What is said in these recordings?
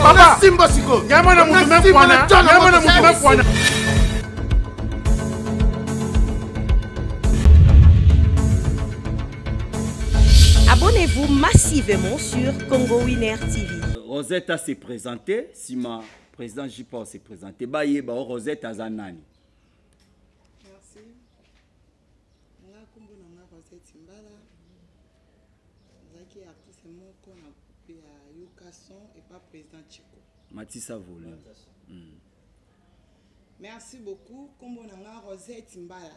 papa simba siko nyama na mutu mekwana nyama na mutu mekwana Abonnez-vous massivement sur Congo Winner TV. Rosetta s'est présentée. sima président JP se présenter bayeba o Rosette aza nani Merci nga kombo na nga Rosette Mbala nazalaki artiste moko na groupe ya Yokason et pas président Chico Matissa Volume mm. Merci beaucoup kombo na nga Rosette Mbala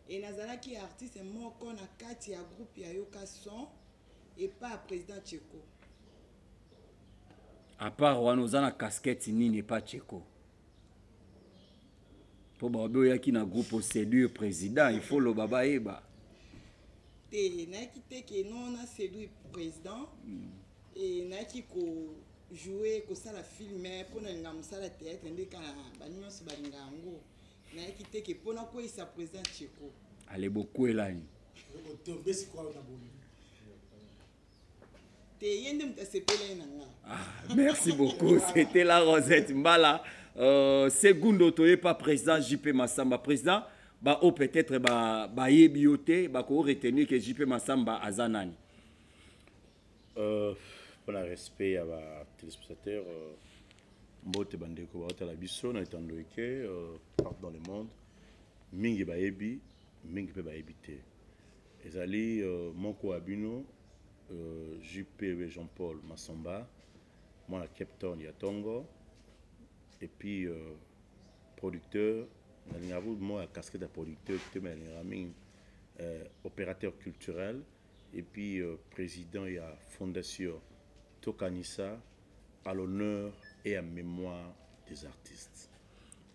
et nazalaki artiste moko na kati ya groupe ya Yokason et pas président Chico apart wana oza na casquette nini epa cheko mpo baobe oyaki na groupe oseduire président il faut loba bayeba te nayaki te ke non na seduire président mm. e nayaki ko joue kosala filme mpo nalinga mosala théâtre nde kala banyonso balinga yango nayaki te ke mpo nakweyisa président cheko ale bokwelani te ye nde moto asepela ye na nga ah, merci beaucoup c'était la rosette mbala euh, segundo toye pa président jp masamba président baoyo oh, peut-être bayebi ba yo te bakoki retenir ke jp masamba aza nani euh, mpo na respect ya batelespectateur euh, mbote bandeko baotala biso na etando eke euh, partout dans le monde mingi bayebi mingi mpe bayebi te Ezali moko ya bino JP we Jean Paul Masomba mwana Cape Town ya Tongo et puis euh, producteur nalingaka kutu moko ya casquette ya producteur te mais nalingaka mingi euh, opérateur culturel et puis euh, président ya fondation tokanisa à l'honneur et à mémoire des artistes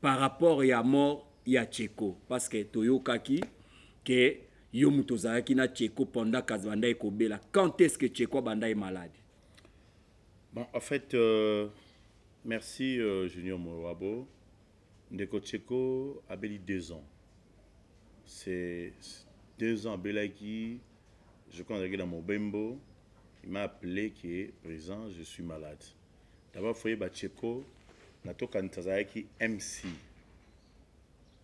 par rapport ya mort ya Tcheko parce que toyokaki que yo moto ozalaki na Tcheko pendant kazi banda ekobela quand est-ce que Tcheko abanda ye malade bon en fait euh, merci euh, Junior Mowabo ndeko Tcheko abeli deux ans c'est deux ans abelaki je crois azalaki na Mobembo il m'a appelé que présent je suis malade D'abord foye Bacheko na tokanisa azalaki MC.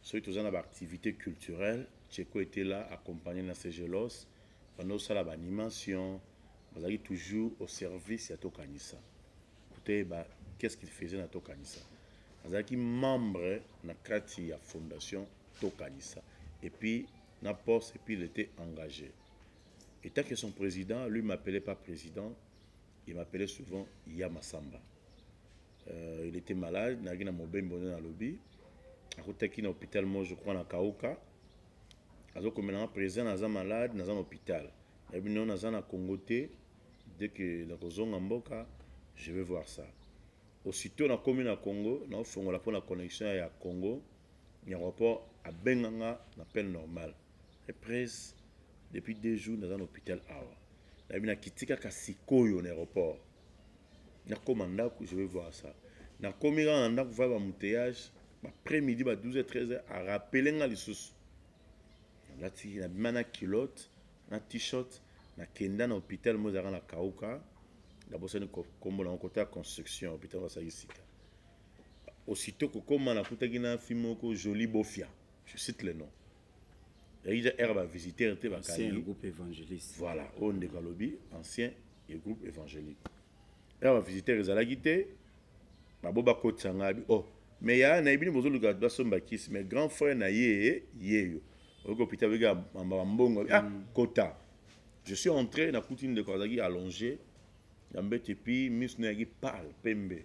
Soki toza na ba activités culturelles, Cheko était là accompagné na Segelos, bando sala ba animations, bazalaki toujours au service ya tokanisa. Toyeba qu'est-ce qu'il faisait na tokanisa. Azalaki membre na kati ya fondation tokanisa et puis na poste et puis il était engagé. Et tant que son président, lui m'appelait pas président, Il m'appelait souvent Ya Masamba. Euh, il était malade, nagi na mobembo na lobi. Akutaki na hôpital moi je crois na Kauka. Azo komela na président naza malade, naza na hôpital. Na bi non naza na Congo te. Dès que na kozonga mboka, je vais voir ça. Aussitôt na komi na Congo, na fongola pona connexion ya Congo. yango po abenga nga na peine normale reprise depuis deux jours naza na hôpital awa nayebi nakiti kaka sikoyo na aéroport nakoma ndako je vais voir ça nakomi kaka na ndako vai bamouteillage après midi ba 12 13 arapele nga lisusu nalati nabima na kilote na t-shirt nakenda na hôpital mo ezalaka na kauka nabosani kombo nango kota ya construction hôpital basaki sika aussitôt kokoma nakutaki na fille moko jolie bofia je cite le nom yaki ja aire bavisitere te bakangigroupe évangéliste voilà oyo ndeko alobi ancien ya groupe évangélique aire bavisitere ezalaki te babo bakotisa ngai o oh, mais yaya na ye bino bozoluka basomba kisi mais grand frère na ye yeyo oyoki opita beke bambongo ah mm. kota je suis entré nakuti ndeko azalaki allongé ya mbete epuis miso na yaki pale pembe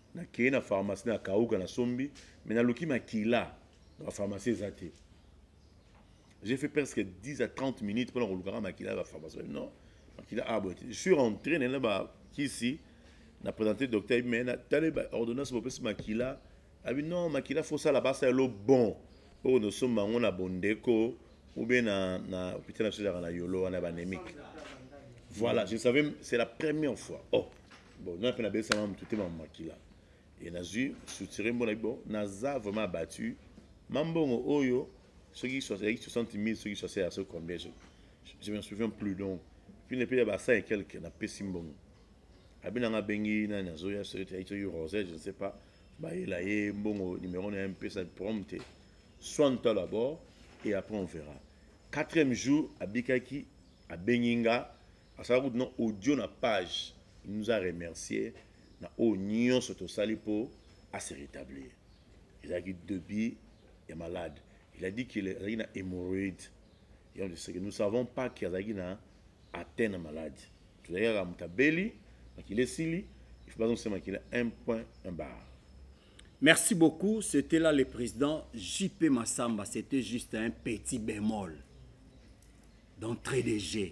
nakei na pharmacie na kauka na sombi me naluki makila na bapharmacie eza te j'ai fait presque 10 à 30 minutes mpona kolukaka makila ya bapharmacie non makila ah, aboye te je suis rentré naye na bakisi na présente docteur ayebi me natale baordonnance bopesi makila abi non makila fosala basala lo bon oyo nosomba yango na bondeko ou bien na, na hôpital na biso ezalaka na yolo wana banémique voilà je savais c'est la première fois oh bon n'a pe na besa mamu tutema ma makila et nazui soutire mbona bon naza vraiment abattu mambongo oyo soki 60 000 soki 60 ya soki combien je, je me souviens plus donc puis ne pe ya ba 5 et quelques na pesi mbongo abi nanga bengi nani azoya soki ya soki rosé je ne sais pas bayela ye mbongo numéro na mpesa problème te soigne toi d'abord et après on verra quatrième jour abikaki abengi nga asala kutu na audio na page il nous a remercier na oyo nyonso tosali mpo ase rétablir ezalaki debit ya malade il a dit qu'il azalaki na hémorroïde yango toseke nous savons pas ke azalaki na atteint na malade tozalaki kaka moto abeli makila esili il faut bazongisa makila un point un bar Merci beaucoup. C'était là le président JP Massamba. C'était juste un petit bémol d'entrée de jeu.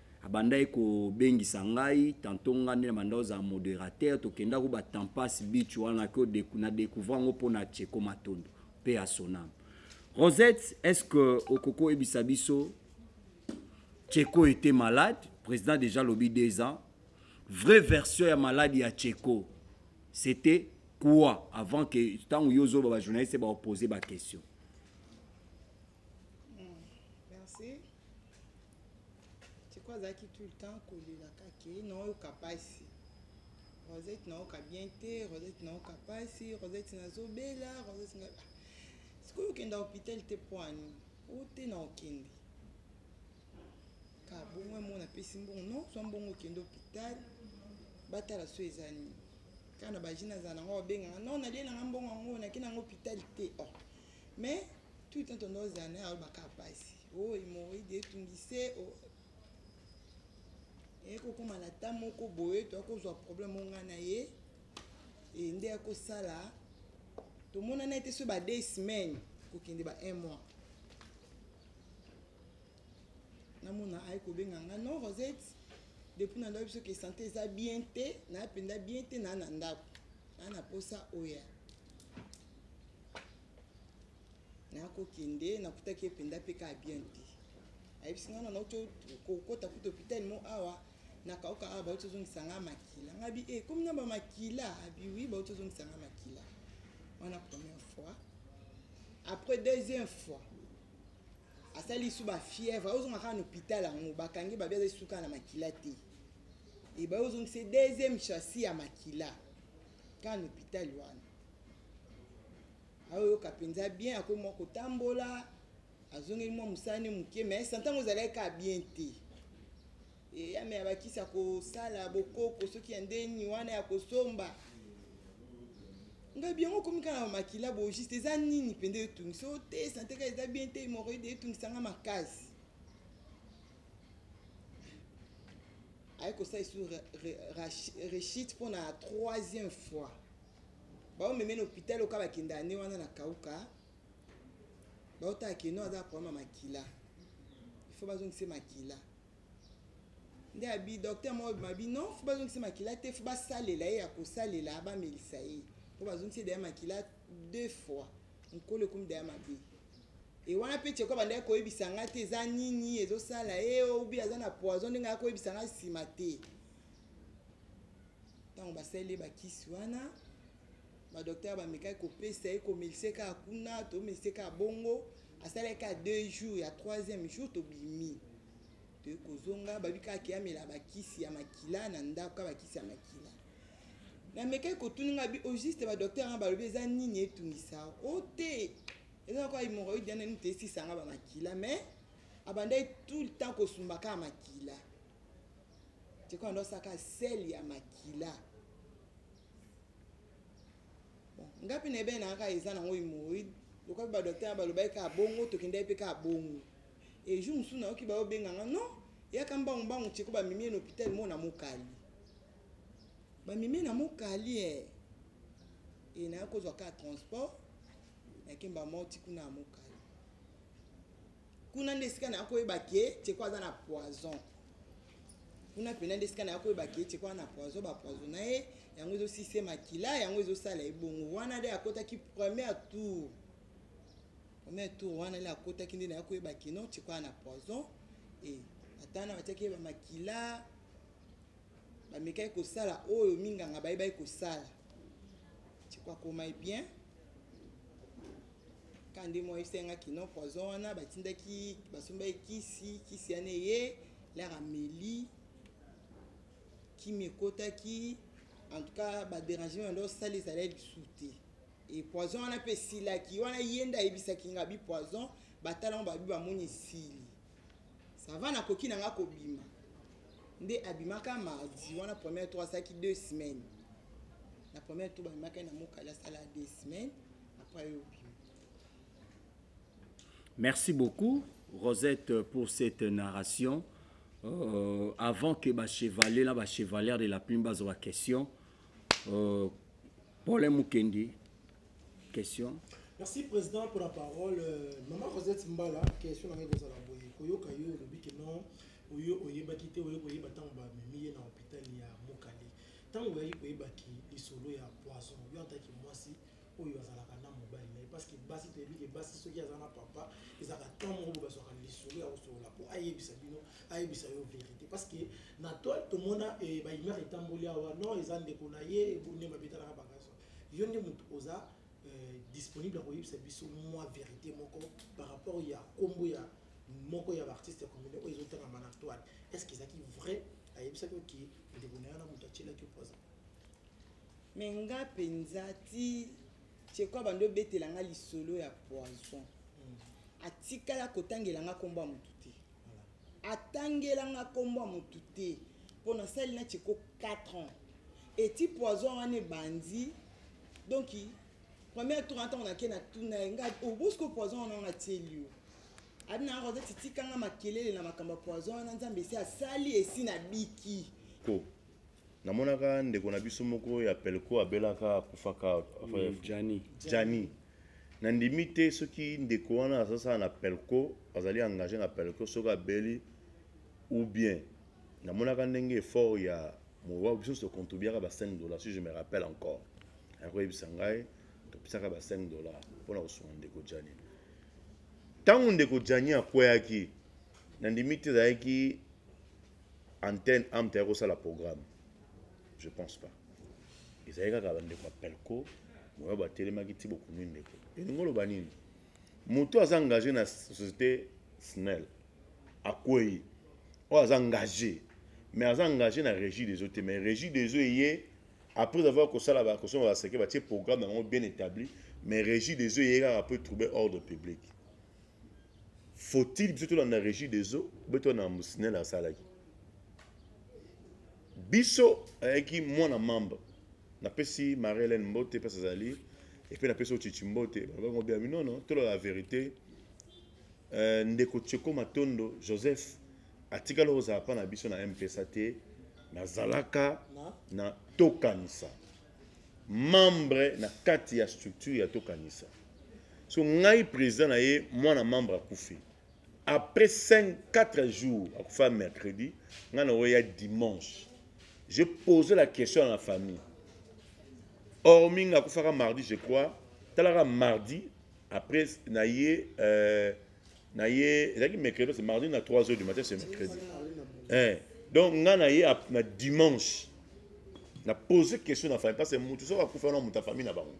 abandaki kobengisa ngai tanto ngai nde na banda ozala modérateur tokendaki ba tampas beach wana ko na découvre yango mpo na cheko matondo mpe ya sonam rosette est ce que okoki koyebisa biso cheko était malade président déjà lobi deux ans vraie version ya malade ya cheko c'était quoi avant que ntango yo ozoba bajournaliste baopose baquestion tiko azalaki tout le temps kolelaka ke naoyoka mpasi rosette naoyoka bien te rosette naoyoka mpasi rosette nazobela rosette na ah, sikoyo okenda hôpital te poani o te na okende ka bongo yango napesi mbongo no zwa mbongo okende hôpital batala so eza nini kaka na baji nazala nango babengaka no nalie nanga mbongo yango nake nango hôpital te or oh. mais tout le temps tonda ozala naye alobaka mpasi oh hemorroïde etungise oh. ekokoma na ta moko boye to akozwa problème onga na ye e nde akosala tomonana ete so ba deux semaines kokende ba un mois namona aye kobenga nga non rosette depuis na ndako biso ke sante eza bien te naa mpenza bien te naa na ndako naa na mposa oya nakokende nakutaki ye mpenza mpe kaka bien te ayebisi ngai nana oti kokota kuta hôpital mo awa nakauka awa bauti ozongisa ngai makila ngai bi e komi na bamakila abiwi bauti ozongisa ngai makila wana première fois après deuxième fois asali lisu bafièvre aozonga kaka na hôpital yango bakangi babi aza lisusu kaka na makila te ebaye ozongisa deuxième chassis ya makila kaka na hôpital wana aoyoka mpenza bien akomi mwa kotambola azongeli mwa mosala ne moke me sa ntango ezalaki kaka bien te eyame ya bakisi ya kosala bokoko soki ya ndeni wana ya kosomba ngai biango okomi kaka na makila bo juste eza nini mpenza etungisa o te sante kaka eza bien te hemoroide etungisa nga makasi aye kosala esu rechite mpo na troisième fois baomeme na hopital oka bakenda ane wana na kauka baotala keno aza problème ya makila ifo bazongise makila nde abi docteur moko bima bi non fo bazongise makila te fo basalela ye ya kosalela bamelisa ye mpo bazongise daya makila deux fois nkolo ekomi daya mabe e wana mpe cheko bandaki koyebisa ngai te eza nini ezosala ye obi aza na poison ndenge akoyebisa ngai nsima te ntango basaleli ye bakisi wana badoktere bamekaki kopesa ye komelise kaka kuna tomelise kaka bongo asalaki kaka deux jours ya troisième jour tobimi toye kozonga babi kaka keyamela bakisi ya makila na ndako kaka bakisi ya makila namekaki kotuni ngai au juste badoktere wana balobi eza nini etungisa o oh, te eza na kwa hemoroïde yana nini tesisanga bamakila mais abandaki tout le temps kosumbaka makila Tiko ando saka sel ya makila. Bon, ngapi na ebe na aka eza na ngo hemorrhoid. Lokola ba docteur ba loba ka bongo to kenda pe ka bongo. Et jour musu na oki ba obenga nga non. Ya ka mbangu mbangu tiko ba mimi na hôpital mo na mokali. Ba mimi na mokali eh. Et na ko zwa ka transport. Na kemba moti kuna mokali. kuna nde esika na koyeba ke teko aza na poison kuna mpena nde esika na koyeba ke teko aza na poison bapoison na ye yango ezosise makila yango ezosala ebongo wana nde akotaki première tour première tour wana nde akotaki nde na ya koyeba ke non teko aza na poison e ata wana batiaki ye bamakila bamekaki kosala oyo minganga bayebaki kosala teko akomai bien kande mwa esengaki no poison wana batindaki basombaki kisi kisi yana eye lere ameli kimi ekotaki en tout cas baderangement yanda osala ezali ya lisu te e poison wana mpe esilaki wana ye nde ayebisaki nga bi poison batalango babi bamoni esili sava nakoki na nga kobima nde abimaka mardi wana première tour asalaki deux semaines na première tour babimaka ye na mokali asala deux semaines après yo obima merci beaucoup rosette pour cette narration euh, avant que bachevalier na bachevalière de la plume bazwa baquestion euh, pole mokendi Question. Merci président pour la parole. Euh, maman Rosette Mbala, question na ngai kozala boye koyoka yo olobi ke non oyo oyebaki te oyo koyeba ntango bamemi ye na hôpital ya Mokali ntango oyaki koyeba ki lisolo ya poison yo antaki mwasi oyo azalaka na mobali na ye parce que basi toyebi ke basi soki aza na papa ezalaka temps moko boye bazwaka lisolo ya kosolola mpo ayebisa bino ayebisa yo verité parce que na toile tomona eh, baimere etamboli awa non eza ndeko na ye ebonde babetalaka bakaso yo nde moto oza euh, disponible ya koyebisa biso mwa verité moko par rapport ya nkombo ya moko ya baartiste comune oyo ezotangama na toile est ce que ezalaki vrai ayebisaki oke ndeko na yo na moto atyelaki poison me nga mpenza ti cheko abandi obetela nga lisolo ya poison hmm. atikala kotangela nga nkombo ya moto te atangela nga kombo ya motu te mpo nasali na cheko 4 ans eti poison wana ebandi donc premier tour ntango nake na tuna ye nga obosko oh, poison wana wana atieli yo abi na yango azati tikanga makelele na makambo ya poison wana nzambe esi asali esi nabiki namonaka ndeko na biso moko ya pelco abelaka akufaka jani jani nandimi te soki ndeko wana azasala na pelco azali engage na pelco soki abeli ou bien namonaka ndenge effort ya mowa biso nyonso tocontribuaka ba 5 dollars si je me rappelle encore akoyebisa ngai topesaka ba 5 dollars mpona kosunga ndeko jani ntango ndeko jani akweyaki nandimi te ezalaki antenne amta ya kosala programme je pense pas ezali kaka bandeko ya pelco moyo batelemaki ti bokomi ndeko elingi oloba nini moto aza engage na société snel akwei oyo aza engage mais aza engage na régie des eaux te mais régie des eaux eye après avoir kosala bakosonga baseke batie programme yango bien établi mais régie des eaux eye kaka mpo etrouble ordre public faut-il biso tolanda régie des eaux boye tolanda makambo sinel asalaki biso ayaki mwana mamba napesi marie hélène mbote mpasi azali epe napesi ochichi mbote balobango biami nono tolola la vérité euh, ndeko cheko matondo joseph atikali kozala mpa na biso na mpesa te nazalaka na tokanisa membre na kati ya structure ya tokanisa so ngai président na ye mwana membre akufi après 5 4 jours akufa mercredi ngai na oya dimanche je pose la question à la famille hormis nga akufaka mardi je crois talaka mardi après na ye euh, na ye ezalaki mercredi c'est mardi na 3 heures du matin c'est mercredi eh. donc nga na ye na dimanche na pose question na famille parce que motu soki akufa na moto ya famille na bango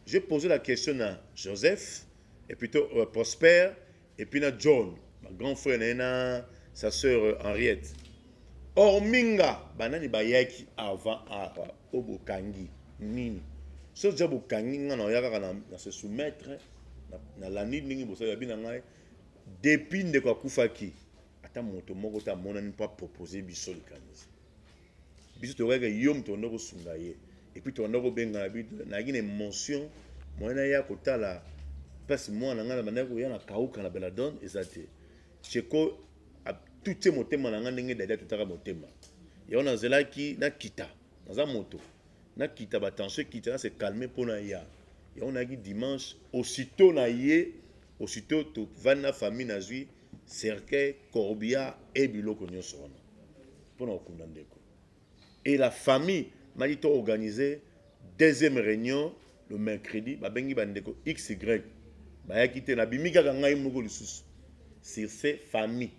j'ai posé la question na joseph et plutôt euh, prosper et puis na john ma grand frère na ye na sa sœur euh, henriette hormi nga banani bayaki avant awa oyo bokangi nini soki ja bokangi nga na oya kaka na se soumettre nalandi ndenge bosali babi na ngai depuis ndeko akufaki ata moto moko te amonani mpo apropose biso likanisi biso toyokaka yo moto onda kosunga ye epuis toanda kobengana nayaki na émotion moyen naya kotala place mwana ngai nabandaki koya na kauka na beladone eza te cheko atutye motema na ngai ndenge dadi atutaka motema yango nazelaki nakita naza moto nakita batension ekita na se calme mpo na ya yango nayaki dimanche aussitôt na ye aussitôt tovandi na famille nazwi cercueil corbia e biloko nyonso wana mpo na kokunda ndeko et la famille maki to organise deuxième réunion le mercredi babengi bandeko xy bayaki te nabimi kaka ngai moko lisusu sur ce famille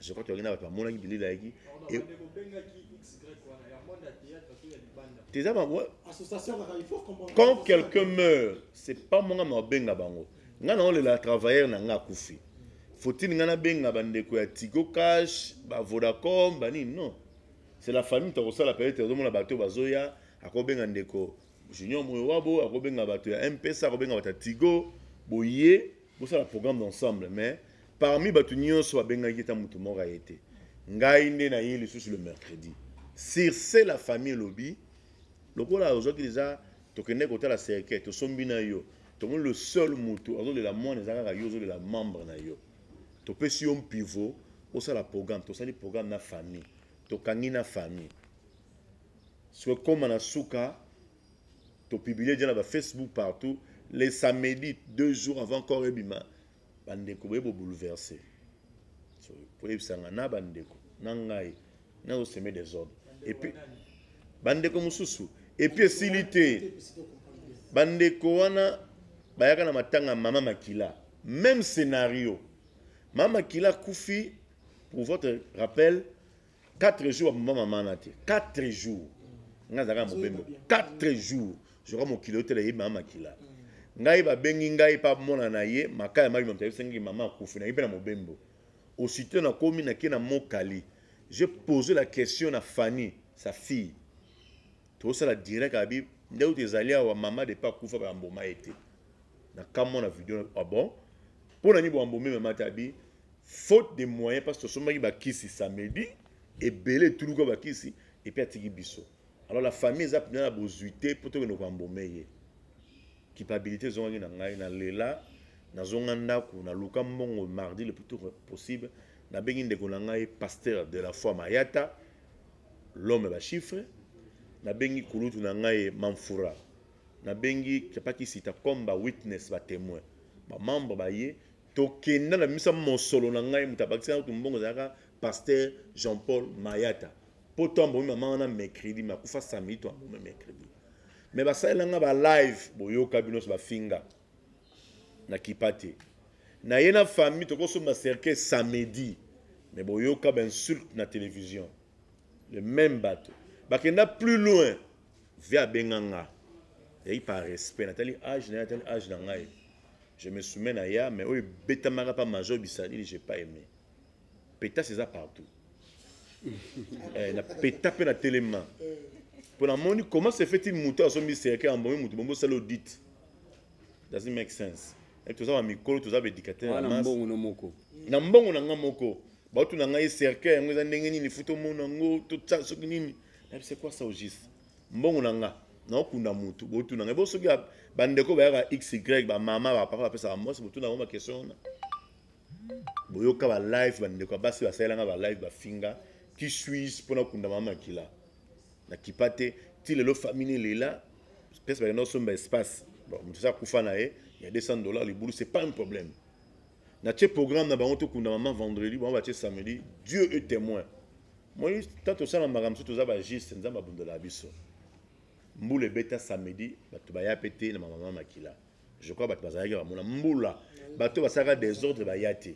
je crois toyaki na bato bamonaki bilili ayaki teza bango quand quelqu'un meurt c'est pas monga mabenga bango ngai naolela travailleur na ngai akufi faut-il ngai nabenga bandeko ya tigo cash bavodacom banini non c'est la famille tokosala peut-être ozomona bato bazoya akobenga ndeko junior moyowabo akobenga bato ya mpesa akobenga bato ya tigo boye bosala programme d'ensemble mais parmi bato nyonso babengaki ta moto moko aye te ngai nde naye lisusu le mercredi sirse la famille elobi lokola ozwaki deja tokende kotala cercueil tosombi na yo tomoni le seul moto azolela mwana eza kaka yo ozolela membre na yo topesi yo mpivo osala programme tosali programme na famille tokangi na famille soki ekoma na suka topiblie deja na bafacebook partout le samedi deux jours avant corps ebima bandeko boye bobouleverse so, koyebisanga na bandeko na ngai nazoseme desordre epuis bandeko mosusu epuis esili te bandeko wana bayaka na matanga mama makila même scénario mama makila akufi pour votre rappel 4 jours aboma mama na te 4 jours ngai azalaka na mobembo 4 jours zoka mokili otela ye mama makila ngai babengi ngai mpe amona na ye maka ya mabi mamta esengi mama akufi na ye mpe na mobembo aussitôt nakomi nake na mokali je pose la question na fanny sa fille tosala direct abi nde uti ezali awa mama depa akufa bamboma ye te nakamwa na video ah bon mpo na nini bwambomema mata abi faute de moyen parce que tosombaki bakisi samedi ebele etuluka bakisi epuis atiki biso alors la famille eza mpena na bozwi te mpo tokende koambome ye kipabilité ezongaki na ngai na lela nazonga ndako naluka mbongo mardi le plus tôt possible nabengi ndeko na ngai pasteur de la foi mayata l'homme bachiffre nabengi kulutu na ngai mamfura nabengi kapakisita comme bawitness batémoin bamembre baye tokenda na misa mosolo na ngai moto abakisi ngai kutu mbongo ezalaka pasteur jean paul mayata mpo to ambomi mama wana mercredi me akufa samedi to ambomi mercredi me basalela ngai balive boyoka bino nyonso bafinga na kipa te na ye na famille tokosomba cercueil samedi me boyoka bainsulte na télévision le même bato bakenda plus loin vie abenga nga yaki par respect natali age naye natali age na ngai je me soumets na ya mais oyo ebetamaka pa major bisalili j'ai pas aimé petase eza partout eh, na peta mpe na telema mpo namoni comment se fait-il moto azombi serke ambomi moto bongo osala audit doesn't make sense eh, toza bamikolo toza baédicateur ah, na mbongo na nga moko bautu na ngai serke yango eza ndenge nini futa omona yango soki nini nayebi c'est quoi ça au juste mbongo na nga naokunda motu botuna ngai bo soki bandeko bayaka xy bamama bapapa bapesaka mwasi botuna yango bakestion wana boyoka balive bandeko ya basi basalela ngai balive bafinga ki suis mpo nakunda mama makila nakipa te ti lelo famille lela place bakenda kosomba espace moto esi akufa na ye ya 200 dollar libulu c'est pas un problème natie programme na bango tokunda mama vendredi bango batie samedi dieu est témoin moi ntan tosala makambo mosusu toza bagiste nzambe abundela biso mbula ebeta samedi bato baya mpe te na mamama makila je crois bato bazalaki bamona mbula bato basalaka desordre baya te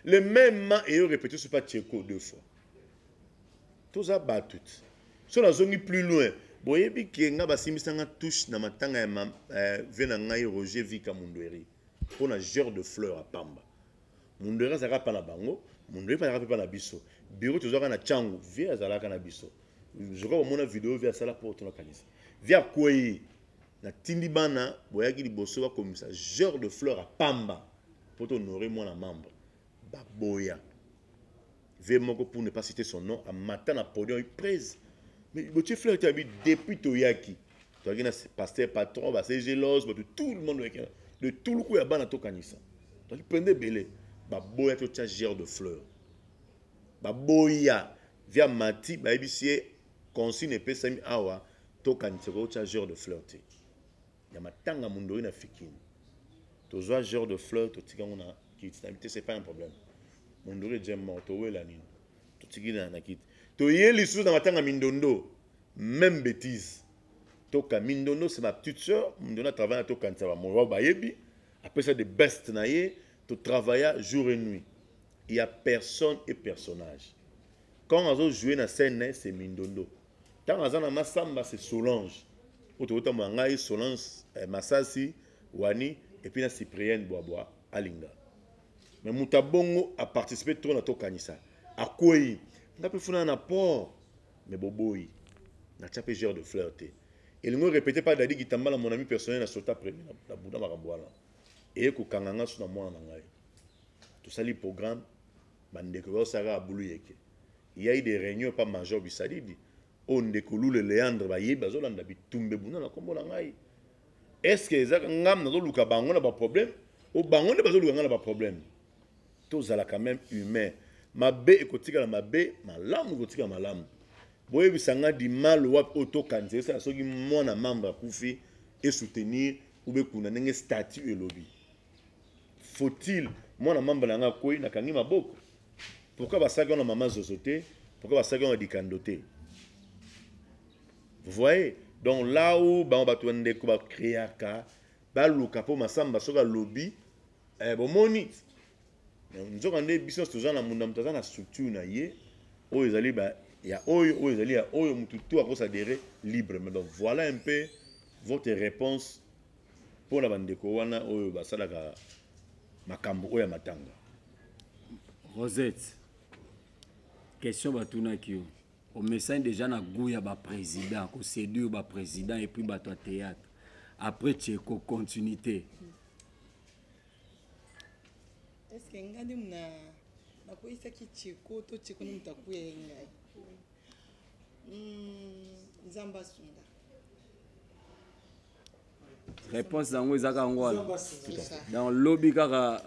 le même ma eyo répété sopa tieko deux fois toza bato te so nazongi plus loin boyebi ke nga basimbisanga touche na matanga ya eh, vie na ngai roger vika mundueri mpo na genre de fleur ya pamba mundele azalaka mpa na bango mundele mpe azalaka mpe mpa na biso biro tozwaka na cangu vie azalaka na biso zoka bamona video vie asala mpo tonakanisa vie akwei natindi bana boyaki liboso bakomisa genre de fleur ya pamba mpo tohonore mwana membre baboya Ve moko pour ne pas citer son nom a mata na podium prez. Mais botie fleur te abi depuis toyaki. Toyaki na pasteur patron ba se jealous ba tout le monde oyaki de tout le coup ya bana to kanisa. Toyaki pende belé ba boya to tia gère de fleur. Ba boya via mati ba ebisier consigne epesami awa to kanisa ko tia gère de fleur te. ya matanga mundoi na fikini tozwa genre de fleur totika yango na kiti na te c'est pas un problème mundoi eje mort towela nini totiki na kiti toye lisusu na matanga mindondo même bêtise toka mindondo c'est ma petite soeur mindondo atravaille na tokanisa bamoa bayebi apesa de best na ye totravailla jour et nuit il y a personne et personnage quand azo jouer na scène na ye c'est mindondo ntango aza na masamba c'est solange oyo tokotambola ngai solange eh, masasi wani epuis na cyprienne bwabwa alinga mais moto abongo aparticipe trop na tokanisa akwei nga mpe funana na port mais boboyi natya mpe genre de fleur te elingo répété par dadi kitambala mon ami personnel na sota premier na buda makambo wana eye kokanga nga so na mwana na ngai tosali programme Ba ndeko ba saka abulu yeke. Il y a eu des réunions par Major Bisadidi. O oh, ndeko Lule Leandre ba yebi bazolanda bitumbe bunda na kombo na ngai. Est-ce que ezaka ngam nazoluka bango na ba problème? O oh, bango nde bazoluka ngai na ba problème. Tozala quand même humain. Mabe ekotikala mabe, malamu ekotikala malamu. boyebisa nga dimalo wapi oyo tokanisa esala soki mwana membre akufi esoutenir ube kuna ndenge statut elobi faut-il mwana mamba na ngai akwei nakangi maboko pourkui basalaki wana mama zozo te pourkui basalaki wana dikando te vous voyez donc là où bango bato bandeko bakreaka baluka mpo masamba soki alobi eh, bomoni nzoka nde biso nyonso toza na munda moto aza na structure na ye oyo ezali ba ya oyo oyo ezali ya oyo motu to akosadere librement donc voilà un peu votre réponse Mpo na bandeko wana oyo basalaka makambo oyo ya matanga. Rosette, question batunaki yo omesani déjà na gout ya baprésident koséduire baprésident et puis bato ya théâtre après tcheko continuité est ce que ngai nde mna nakweyisaki tcheko to tcheko nde moto akuya ye ngai hmm, nzambe asunga réponse yango eza kaka ngo wana donc lobi kaka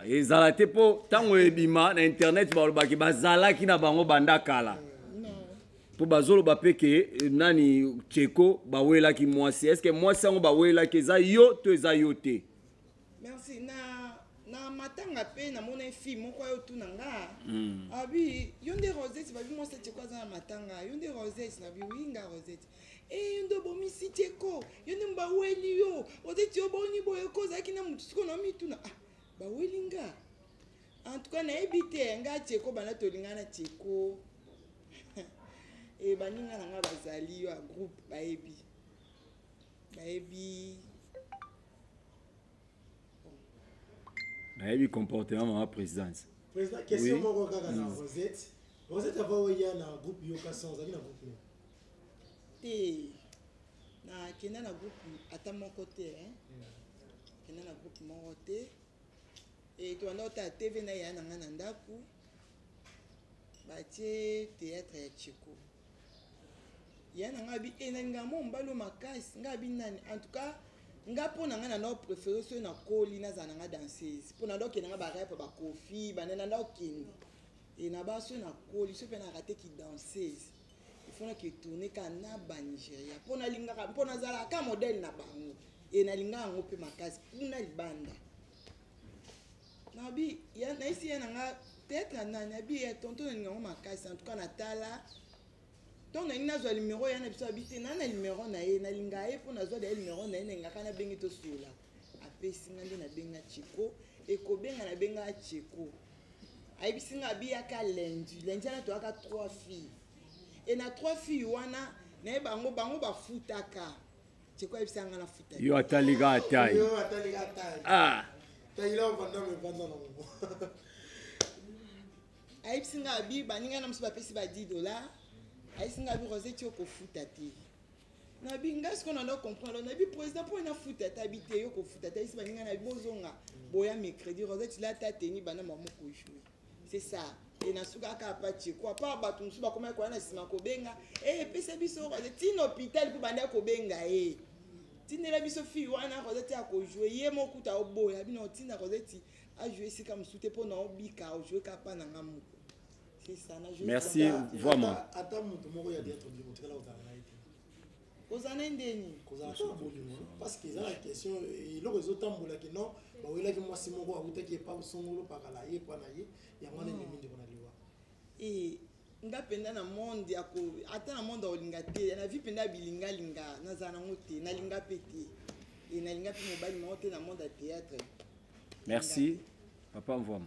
euh, ezala te mpo ntango ebima na internet balobaki bazalaki na bango banda kala mpo bazoloba mpe ke euh, nani cheko bawelaki mwasi est ce que mwasi yango bawelaki eza yo to eza yo te merci na na matanga mpe namonaki fille moko ayo tuna nga hmm. abi yo nde rosette babi mwasi cheko aza na matanga yo nde rosette nabi wi nga rosette Eh, yo nde obomisi te ko yo nde baweli yo ozeti yo boni boye ko ozalaki na motu siko na mituna ah, baweli nga en tout cas nayebi te nga tieko banda tolinga na tieko e eh, baninga na nga bazali yo ya groupe bayebi bayebi nayebi comportement mama présidence président question moko kaka na rosette rosette avant oya na groupe yoka sans ozalaki na groupe nini te nakenda na groupe ata moko te eh. hmm. kenda na groupe moko te e tobanda kotala tv na yaya na ngai na ndako batie théâtre ya cheko yaya na ngai abi e eh, nani ngai mo mobali makasi ngai abi nani en tout cas nga mpo na ngai na ndako préféré soki nakoli nazala na ngai danseuse mpo na ndako kende ngai barepe bakofi banana ndako kende e na baso nakoli soki mpe na rate kidanseuse faut na tourne kaka na banigeria mpo nalingaka mpo nazalaka ka modele na bango e nalingaka yango mpe makasi kuna libanda nabi nayisi ye na nga peut-être na nani abi ya tonto nalinga yango makasi en tout cas natala donc nalingi nazwa numero ya na biso abi te naa na numero na ye nalinga ye mpo nazwa da ye numero na ye nalingaka nabengi tosolola apesi nga nde nabenga cheko ekobenga nabenga cheko ayebisi nga abiyaka lundi lundi wana toyaka trois filles e na trois filles wana naye bango bango bafutaka cheko ayebisa nga nafuta yo atalika atai yo atalika atai ah tayila ovanda mevanda na ngo ayebisi nga abi baninga na mosusu bapesi ba 10 dollars ayebisi nga abi roseti okofuta te nabi ngai sikoyo nando comprendre nabi président mpo na futa ata bi te yo kofuta ata esi baninga nabi bozonga boya mercredi rosette lata teni bana mamo kojoue c'est ça e nasuka kaka patie ko apart bato mosusu bakomaki koya na nsima kobenga e epesa biso rosette tina hôpital mpo banda kobenga ye eh. tindela biso fille wana rosette ya kojoue ye mokuta oboya bino otinda rosette ajoue esika mosusu te mpo na obika ojoue kaka mpa na nga moko merci vraiment kozala na ye ndeni kozala kaka bolingo parce que eza na question eloko ezotambola ke non bawelaki mwasi moko awutaki epa osongolo pakala ye epa na ye yango wana ememi ndeko na liwa eh, nga mpenza na monde yako ata na monde akolinga te na vie mpenza ya bilingalinga nazala nango te nalinga mpe te e nalinga mpe mobali moko te na monde ya théâtre merci papa mvwama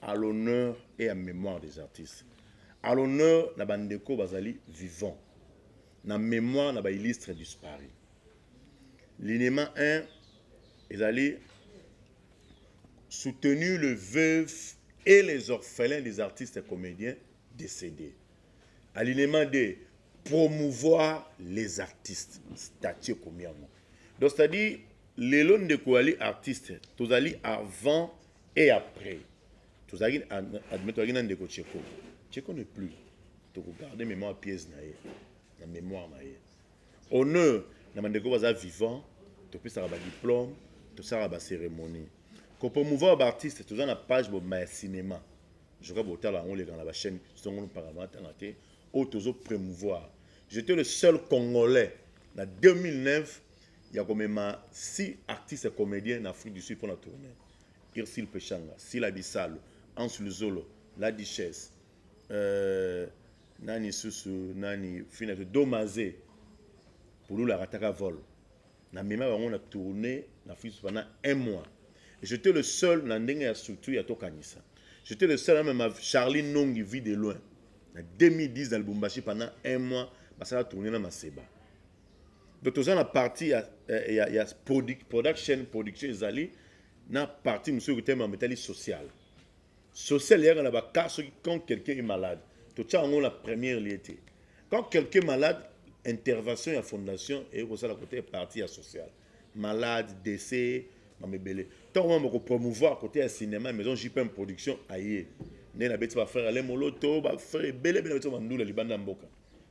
à l'honneur et à mémoire des artistes à l'honneur na bandeko bazali vivant na mémoire na baillustre disparu linema 1 ezali soutenu le veuf et les orphelins des artistes et comédiens décédés à linema 2 promouvoir les artistes statue ekomi yango donc c'est à dire lelo ndeko ali artiste tozali avant et après tozalaki admet tozalaki na ndeko cheko cheko ne plus tokogarde mémoire pièce na ye na mémoire na ye honneur na bandeko baza vivant topesaka badiplôme tosalaka bacérémonie kopromouvoir baartiste toza na page bobima ya cinéma joka botala yango oleka na bachaîne songo mpaka matanga te oyo tozo promouvoir j'étais le seul congolais na 2009 ya komema si artiste comédien na afrique du sud mpo na tournée Ursule Peshanga, Sila Bisalu, Hans Luzolo, La Duchesse, euh, nani susu nani fina domaze pulula akataka vol na mema bango na tourne na fils pendant un mois j'étais le seul na ndenge ya structure ya tokanisa j'étais le seul même charlie nongi vie de loin na 2010 na lubumbashi pendant un mois basala tourne na maseba donc toza na partie ya, eh, ya, ya product, production production ezali na partie mosusu ekotema metali sociale social eyaka na bacar soki quand quelqu'un est malade totya yango na première lie te quand quelqu'un est malade intervention ya fondation eye kosala kote partie ya sociale malade décès mama ebele ntango mama kopromouvoir kote ya cinéma maison jpm production aye nde nabeti bafrère ale moloto bafrère ebele ebele nabeti bandula libanda ya mboka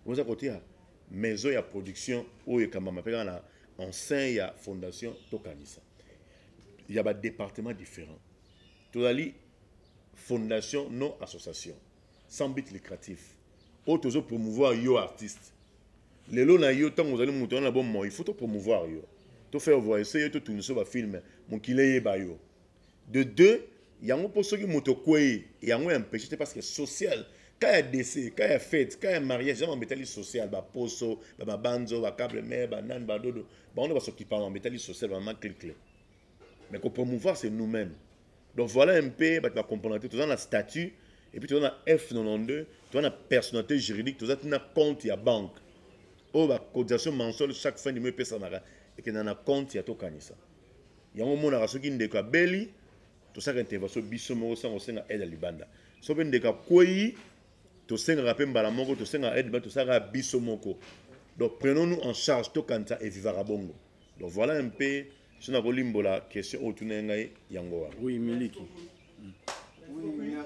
oza kotia maison ya production oyo ekambama mpe kaka na en sein ya fondation tokanisa ya badepartement différent tozali fondation non association sans but lucratif oyo tozo promouvoir yo artiste lelo na yo ntango ozali moto wana na bomoi il faut to promouvoir yo to faire voice yo to tunisa bafilme mokili eyeba yo de deux yango mpo soki moto okwei yango ya mpeshe te parce que social ka ya dese ka ya fete ka ya mariage ya mambo etali social baposo bamabanzo bacable mare banani badodo bango nde basokipa mambo etali social bamama clicle mais kopromouvoir c'est nous mêmes donc voilà un peu bato bacomprendre te toza na statut et puis toza na f92 toza na personnalité juridique toza ntina compte ya banque oyo bacotisation mensuelle chaque fin du mois epesanaka ekenda na compte ya tokanisa yango omonaka soki ndeko abeli tosaka intervention biso moko sango osenga aide ya libanda so mpe ndeko akwei tosengaka mpe mbala moko tosengaka aide libanda tosaka biso moko donc prenons nous en charge tokanisa evivaka bongo donc voilà un peu so nakolimbola question oyo otuna ye ngai yango wana oui miliki mm. oui, ah,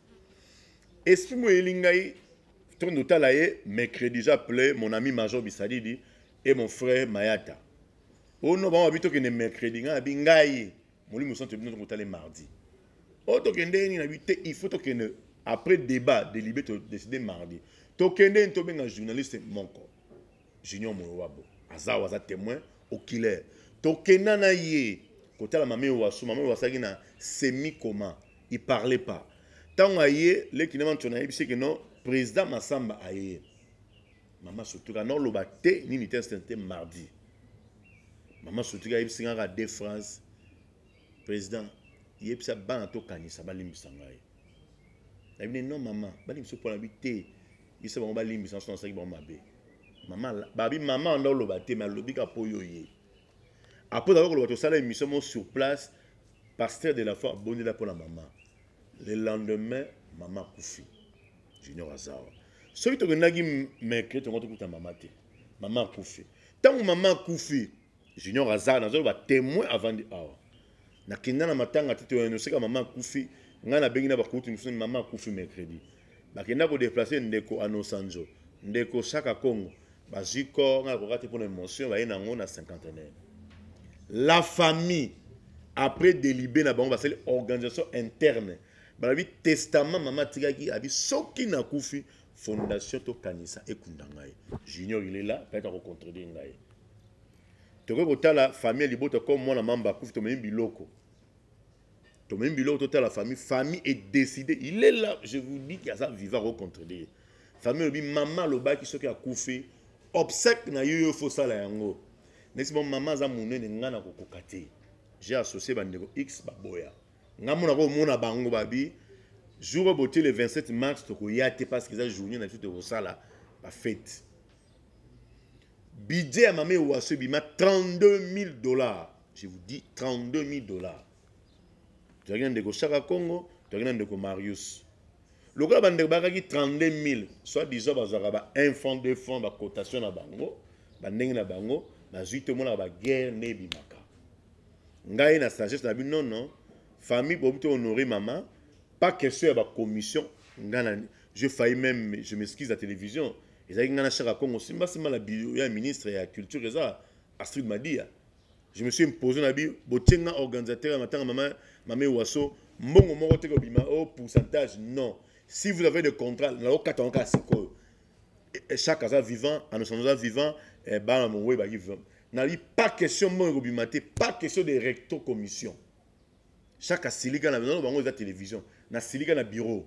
esprit mo eyeli ngai tondo otala ye mercredi eza play mon ami major bisadidi et mon frère mayata ono bango babi tokende mercredi ngai nabi ngai molimo santo bino tokotale mardi oyo oh, tokende nini nabi te il faut tokende après débat delibe todécide mardi tokende nini tobenga journaliste moko junior moyo wabo aza awa aza témoin okilaire tokenda na ye kotala mame wasu mame wasu azalaki na semi coma il parlait pas ntango aye leki na manso nayebisi ke non président masamba aye mama sotuka naoloba te nini te instant te mardi mama sotuka ayebisi nga kaka de france président yebisa bana tokanisa balimbisa ngai nayebi ne non mama balimbisa mpo nabi te yebisa bango balimbisa nso nasalaki bango mabe mama babi mama anda oloba te me alobi kaka mpo yo ye apres nakoki koloba tosala émission mo sur place Pasteur de la foi abondela pona maman. Le lendemain maman akufi. Junior Azawa. Soki tokendaki meke tongo tokuta maman te. Maman akufi. Tango maman akufi Junior Azawa nazo ba témoin avant de awa. Nakenda na matanga te toyano seka maman akufi. Nga na bengi na bakuti mususu maman akufi mercredi. bakenda ko deplacer ndeko anosanzo ndeko shaka congo bazwi corps ngai nakoka te mpona émotion baye na yango na cinquantenaire la famille après delibe na bango basali organisation interne balobi testament mama atikaki abi soki nakufi fondation tokanisa ekunda ngai junior ilela payaka kocontredire ngai tokoki kotala famille ya libota comme mwana mamba akufi tomemi biloko tomemi biloko totala famille famille est décidé il est là je vous dis que aza vivant akocontrele ye famille olobi mama alobaki soki akufi obsèque na yo yo fosala yango nesi mo mama aza monene ngai nakokoka te j'ai associé bandeko x baboya ngai mona komona bango babi jour oyo botie le 27 mars tokoya te parce que eza journée na biso tokosala bafete budget ya mama ewaso ebima 32 000 dollars je vous dis 32 000 dollars tozalaki na ndeko shaka congo tozalaki na ndeko marius lokola bandeko bayakaki 32 000 soit disant bazwaka ba 1 franc 2 franc bacotation na bango bandenge na bango nazwi te omonaka baguerre nde ebimaka ngai na sagesse na bino nono famille bobi to honore mama pas question ya bacommission ngai na je failli même je m'excuse la télévision ezalaki ngai na shaka congo simbasimba na bio ya ministre ya culture eza Astrid Madia, je me suis imposé na bi botenga organisateur ya matanga mama mame Waso mbongo moko te kobima au oh, pourcentage non. Si vous avez des contrats na okata onka sikoyo. Chaque aza vivant, anosan aza vivant, eh, bana mongwe ba vivant. Na bi pas question mbongo kobima te, pas question de recto commission. Chaque asilika na bino bango eza télévision, na silika na bureau.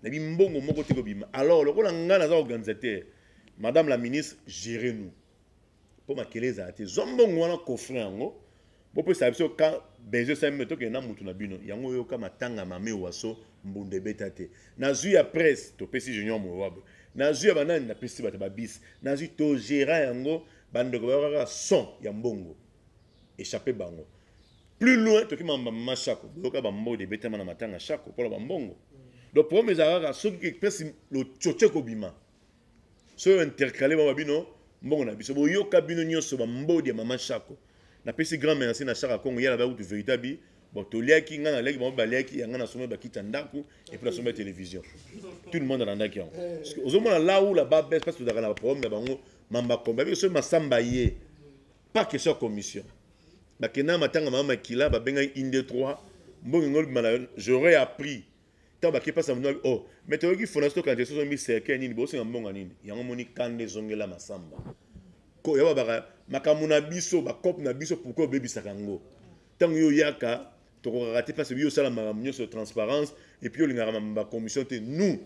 Na bi mbongo moko te kobima. Alors lokola ngana za organisateur, madame la ministre, gérez nous. mpo makele ezala te zwa mbongo wana kofre yango bopesa biso ka bezo sami tokende na motu na bino yango oyoka matanga mame waso mbunda ebeta te nazwi ya presse topesi junior mowabe nazwi ya banani napesi bato babisi nazwi togera yango bandeko bayokaka son ya mbongo echappe bango plus loin toki mamba mama shako boyoka bambode ebetama na matanga shako mpo na bambongo donc problème ezalaka soki ekpesi lococo ekobima soyo intercale mama bino mbongo na biso boyoka bino nyonso bambodi ya mama shako napesi grand merci na shaka kongo yala bakutu verité abi bon toliaki ngai naliaki bango baliaki yanga nasomai bakita ndako epuis nasomai télévision tout le monde alandaki yango ozomona laula babes parce tozalaka na baproblème na bango mambakomba biko soki masamba ye pas question ya commission bakenda matanga mama makila babengaki inde 3 mbongo ngolbima na j'aurais appris ntango bake mpasi na bino o oh, me toyoki fondation tokanisa soso miserkei nini bosenga mbongo nini yango moni kanda ezongela masamba ko ya babaka makambo na biso bakope na biso pourkoi obebisaka yango ntango yo oyaka tokokaka te mpasi biyo osala makambo nyonso transparence epuis olingaka bacommission te nous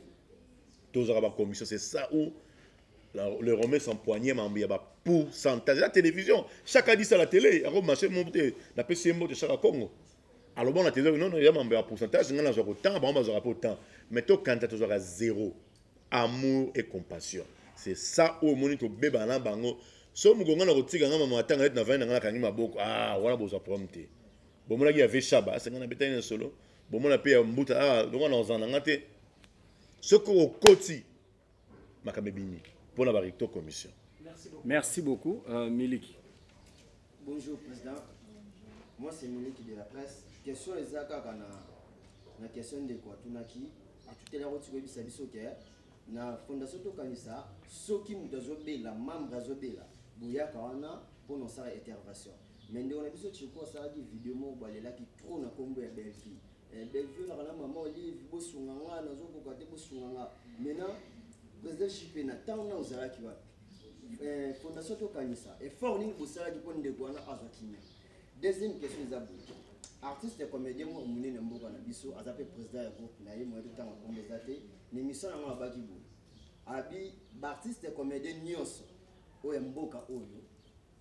tozwaka bacommission c'est ça ou le romain s'empoigne mambo ya bapourcentage ya télévision chaque adisa la télé yango marché moko te napesi ye mbote chaque congo aloba na tezaki nono ya mambo ya pourcentage ngai nazwaka otanga bango bazwaka mpo temps mais tokanisa tozwaka zero amour et compassion c'est ça oyo omoni tobebana na bango so mokongo na kotika ngai mama atanga neti na vani na ngai nakangi maboko ah wana bozwa problème te bomonaki ya veshaba asenga na betani na solo bomona mpe ya mbuta ah longo na ozana na ngai te soki okoti makambo ebimi mpo na barecto commission merci beaucoup uh, miliki bonjour président moi c'est miliki de la presse question eza kaka na na question ndeko atunaki atuteli yango tikoyebisa biso ke na fondation tokanisa soki moto azobela membre azobela boyaka wana mpo na osala intervention mais ndeko na biso chiko asalaki video moko balelaki trop na nkombo ya belvie Eh, Bellevue na kana maman Olive bosunga nga nazokoka te bosunga nga maintenant président JP na ntango na ozalaki wapi eh, fondation tokanisa effort nini bosalaki mpo ndeko wana azwa kimia deuxième question eza boye artiste comédien moko monene na mboka na biso aza mpe président ya groupe na ye moyebi ntango akombo eza te na émission yango abaki boye abi baartiste comédien nyonso oyo ya mboka oyo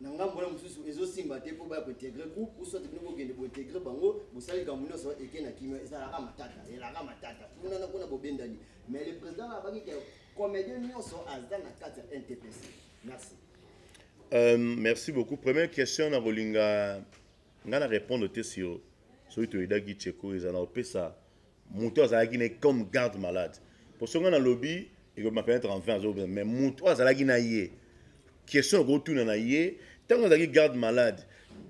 na ngambo wana mosusu ezosimba te mpo baya kointegre groupe ou soit bino bokende bointegre bango bosali likambo nyonso eke na kimia ezalaka matata elaka matata kuna na kuna bobendani mais le président na abaki ke comédien nyonso aza na kati ya ntps merci euh, merci beaucoup première question na kolinga ngai na répondre te sur soki toyedaki cheko ezala na kopesa moto azalaki ne comme garde malade posonga na lobi ekobima peut-être en 20 azobima mais moto oyo azalaki na ye question okotuna na ye ntango azalaki garde malade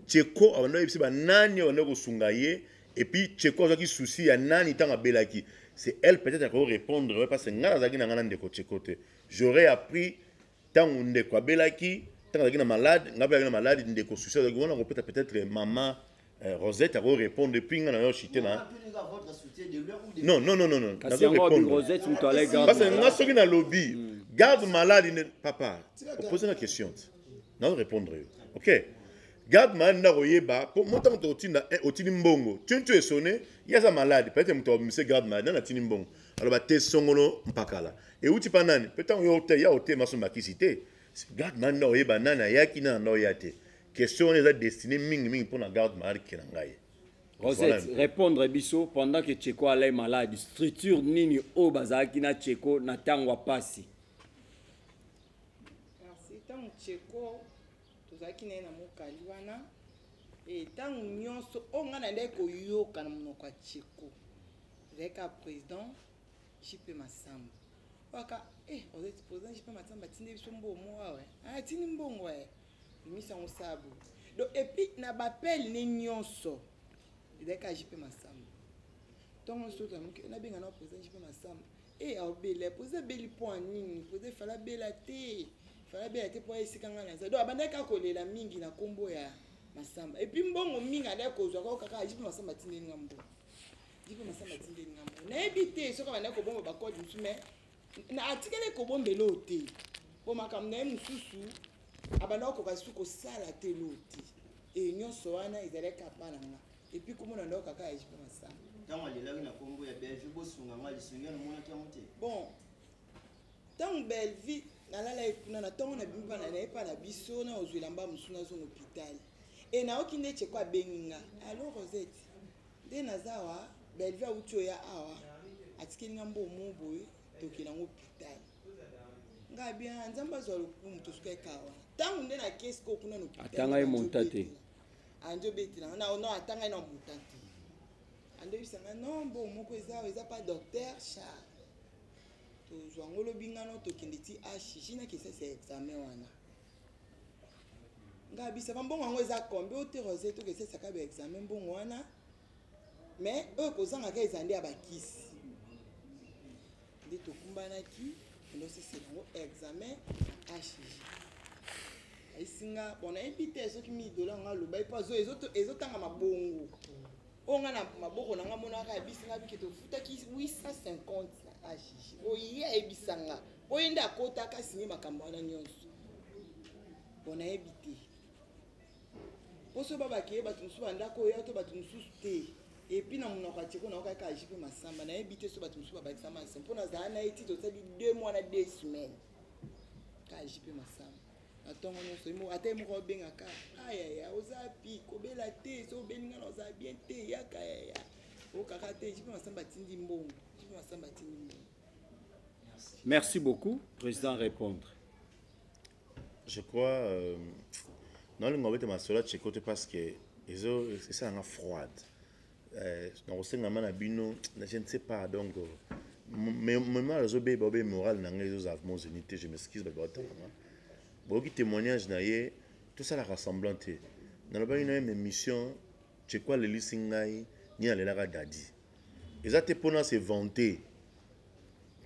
cheko abanda oyebisi banani oyo bandaki kosunga ye epuis cheko azwaki souci ya nani ntango abelaki c'est elle peut-être akoki répondre oyo parce ngai nazalaki na ngai na ndeko cheko te j'aurais appris ntango ndeko abelaki ntango azalaki na malade ngai mpe azalaki na malade ndeko susi azalaki wana kopeta peut-être mama eh, rosette akorépondre epui ngai na yo chite na non non non non nazorépondrepase ngai soki nalobi hmm. garde malade ne papa opose na question te nazorépondre yo ok garde malade nde akoyeba mpo mo ntango tokotinda eh, otindi mbongo tintio esone ye aza malade peut-être moto abimise garde malade nani atindi mbongo aloba te songolo mpakala euti mpa nani mpe ntango yo ya otema so makisi te garde mani nao oyeba nani ayaki nani nao ya te question wana eza destine mingimingi mpo na garde marke na ngai Rosette, voilà répondre à Bisso pendant que Tcheko allait malade. Structure nini o bazaki na Tcheko na tango à passi. Merci tango Tcheko tozalaki na ye na mokali wana ntango eh, nyonso oyo ngai nayendaki koyoka na monoko ya cheko ezalaki kaka président jipe masamba waka eh, ozali président jipe masamba atindi biso mbongo awa ah, atindi mbongo e eh. bimisa yango sabu donc epuis na bapele ne nyonso ezalaki kaka jipe masamba ntongo nyonso toyoka moke nabenga na president jipe masamba e aobela president abeli mpo ya nini president fala abela te fala abela te mpo ya esika ngai naza donc abandaki kaka kolela mingi na nkombo ya masamba epuis mbongo mingi alaki kozwa kaka kaka jipe masamba atindeli nga mbongo jipe masamba atindeli nga mbongo nayebi te soki abandaki kobomba bakode mosusu mai na atikali kobombela oyo te mpo makambo na ye mosusu abandaki kokoka susu kosala te loo te e nyonso wana ezalaki kapa na ngai Et puis comment on a donc à faire comme ça Tant elle est là, il a combo ya Bellevue, beau son, on a les sons, on a qui a monté. Bon, tant Bellevue, nalala ekuna na ntongo na bimi bana na ye mpa na biso na ozwela mba mosusu nazonga hôpital e nayoki nde cheko abengi nga allo rosette nde naza awa bellevue awuti oya awa atikeli nga mbo mo boye tokela yango hôpital nga bien nzambe azwa lokumu tosuka ekawa ntango nde na kesi kokuna na hôpital atanga ye monta te andi obetela nga na no ata ngai na muta te andi oyebisa nga no mbo moko eza oyo eza pa docteur charles tozwa ngo lobi nga no tokende ti hg na kisasa ya examen wana ngai abisaka mbongo yango eza kombe oterose tokesesaka ba examen mbongo wana mais oyo kozanga ka eza nde ya bakisi nde tokumbanaki endosesela yango examen na hg ayisinga bon nayebi te soki midola yango alobaki mpo ezotanga mabongo oyo nga na maboko na nga monaka ayebisi nga bike tofutaki 850 na hg oye ayebisa nga oye nde akotaka sinye makambo wana nyonso bon nayebi te mpo so babakeye bato mosusu bandako oyo to bato mosusu te epuis na monoko ya teko nayoka kaka jipe masamba nayebi te so bato mosusu babakisa masa mpo nazala na ye ti tosali deux mois na deux semaine kaka jipe masamba na ntongo nyonso ata ye moko abengaka ayaya oza pi kobela te so obeli ngana oza bien te yaka yaya okaka te jipe masamba atindi mbongo jipe masamba atindi mbongo merci beaucoup président répondre je crois euh, nalinga obeta masolo ya cheko te parce que esalanga froide euh, nakosengama na bino je ne sais pas donc euh, mémoire ezobeba obe morale na ngai ezozala vraiment zeni te je m'excuse bato batalanga boyoki témoignage na ye tosalaka semblant te nalobaki na ye ma émission cheko alelisi ngai nini alelaka dadi eza te pona se vanter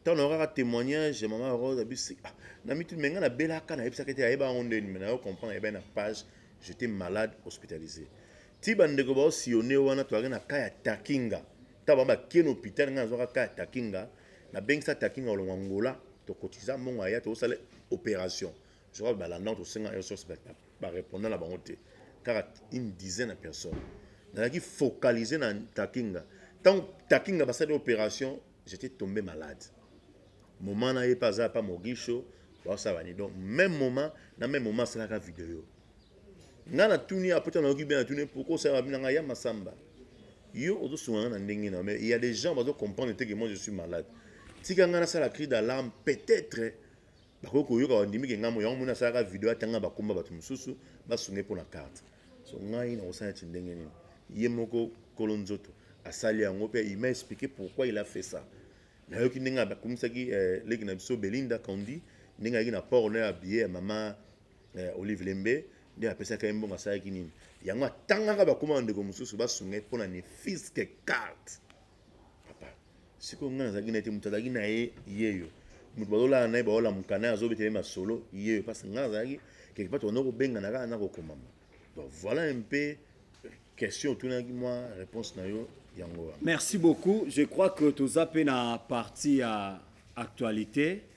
ntango nayo kaka témoignage ya mama rose abisi ah, na mitu me ngai nabelaka nayebisaka ete ayeba yango ndeni me nayo comprendre ayebaki na page j'étais malade hospitalisé ti bandeko baosillone wana toyaki na ka ya takinga ntango bango bakie na hôpital ngai nazwaka ka ya takinga nabengisa takinga olongo angola tokotiza mbongo aya tokosala opération Zoka balanda tosenga yo source ba répondre na bango te. Kaka une dizaine de personnes. Nazalaki focaliser na Takinga. Tant Takinga basali opération, j'étais tombé malade. Moment na ye pas za pas Mogisho, ba ça va ni donc même moment na même moment c'est la vidéo. Nga na tuni apota na yoki bien na tuni pourquoi ça va bien nga ya masamba. Yo ozo sunga na ndenge na mais il y a des gens bazo comprendre que moi je suis malade. Tika nga na sala cri d'alarme peut-être bakoki koyoka bandimi ke ngambo yango moni asalaka video atanga bakomba bato mosusu basunga ye mpo na karte so ngai nakosala neti ndenge nini ye moko kolo nzoto asali yango mpe il m'a expliqué pourquoi il a fait ça nayoki ndenge akomisaki eh, leki na biso belinda kandi ndenge ayaki na port na ya biye ya mama eh, olive lembe nde apesaki ye mbongo asalaki nini yango atangaka bakoma bandeko mosusu basunga ye mpo na nefiske carte papa sikoyo ngai nazalaki na ye te moto azalaki na ye yeyo moto bazolala na ye baolamuka na ye azobeta ye masolo yeyo parce ngai nazalaki quelque part tokona kobengana kaka na kokomama donc voilà un peu question otunaki mwa réponse na yo yango wana merci beaucoup je crois que toza mpe na partie ya actualité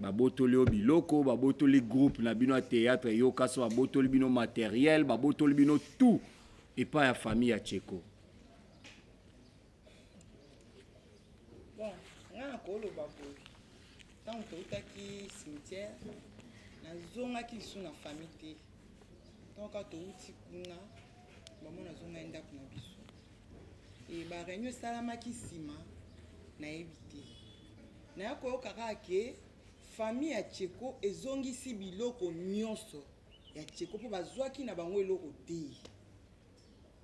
babotoli yo biloko babotoli groupe na bino ya théâtre yoka so babotoli bino matériel babotoli bino tout epai ya famille ya cheko bon nga nakoloba boye ntango toutaki cimetière nazongaki lisu na famille te ntango kaka touti kuna bamo nazongaki ndako na biso e bareunion esalamaki nsima nayebi te Naya koyoka kaka ke famille ya Tsheko ezongisi biloko nyonso ya Tsheko mpo bazwaki na bango eloko te.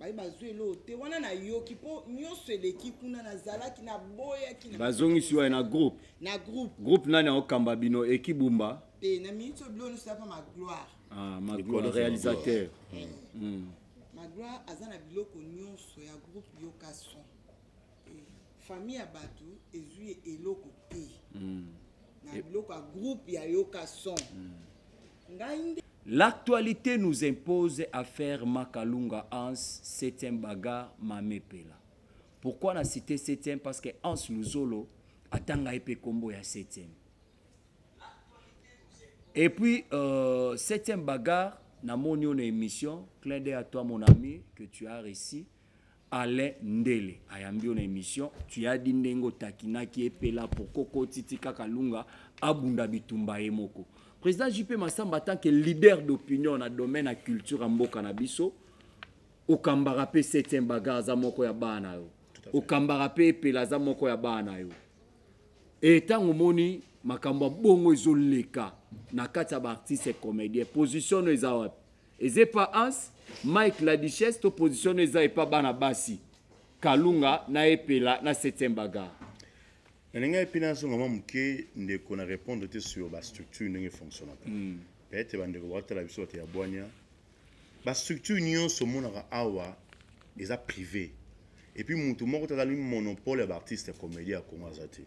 baye bazwi eloko te wana nayoki mpo nyonso eleki kuna nazalaki naboyaki bazongisi waye na groupe na groupe groupe nani akokamba bino ekibumba te na minute oyo bilo nyonso yapa magloire ah, magloire réalisateur mm. mm. magloire aza na biloko nyonso ya groupe yoka son famille ya bato ezwi eloko te hmm. na biloko ya groupe ya yoka son hmm. ngai nde L'actualité nous impose à faire Makalunga Hans, septième un bagarre, Mamé Pela. Pourquoi la cité septième Parce que Hans Luzolo a Tangaïpe Combo à septième. Et puis, euh, septième bagarre, na mon émission, clin d'œil à toi mon ami, que tu as réussi, Alain Ndele ayambi yo na emission tu as dit ndenge otakinaki epela pourquoi okoti ti kaka lunga abunda bitumba ye moko président JP Massamba en tant que leader d'opinion na domaine ya culture ya mboka na biso okambaka mpe septième bagarre aza moko ya bana na yo okambaka mpe epela aza moko ya bana na yo e ntango omoni makambo ya bongo ezoleka na kati ya baartiste comédien position no eza wapi eza epa ans mike la duchesse to position eza epa bana basi kalunga na epela na 7e bagar nalinga epi nazonga mwa moke ndeko na répondre te sur bastructure ndenge efonctionnaka mm. peut-être bandeko bakotala biso bato ya bwania bastructure nyonso omonaka awa eza privé epuis motu moko te azali monopole ya baartiste ya comédie ya congo aza te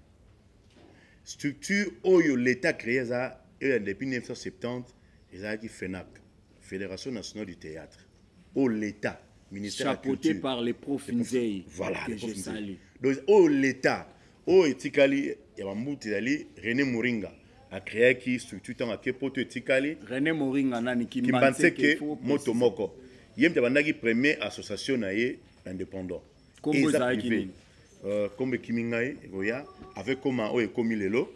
structure oyo l'état créé eza eyo ya depuis 1970 ezalaki fenac fédération nationale du théâtre oyo l'état ministère ya chapeauté culture par les profs nzei voilà que les profs je nzei. salue donc oyo l'état oyo etikali ya bambuti ezali rené moringa acreaki structure ntango ake poto etikali rené moringa nani kimbanseke kimbanseke il faut moto préciser. moko ye moto abandaki premier association na ye indépendant Kombo Eza ezalaki privé. nini? Euh, kombo ekimi ngai ekoya avec koma oyo ekomi lelo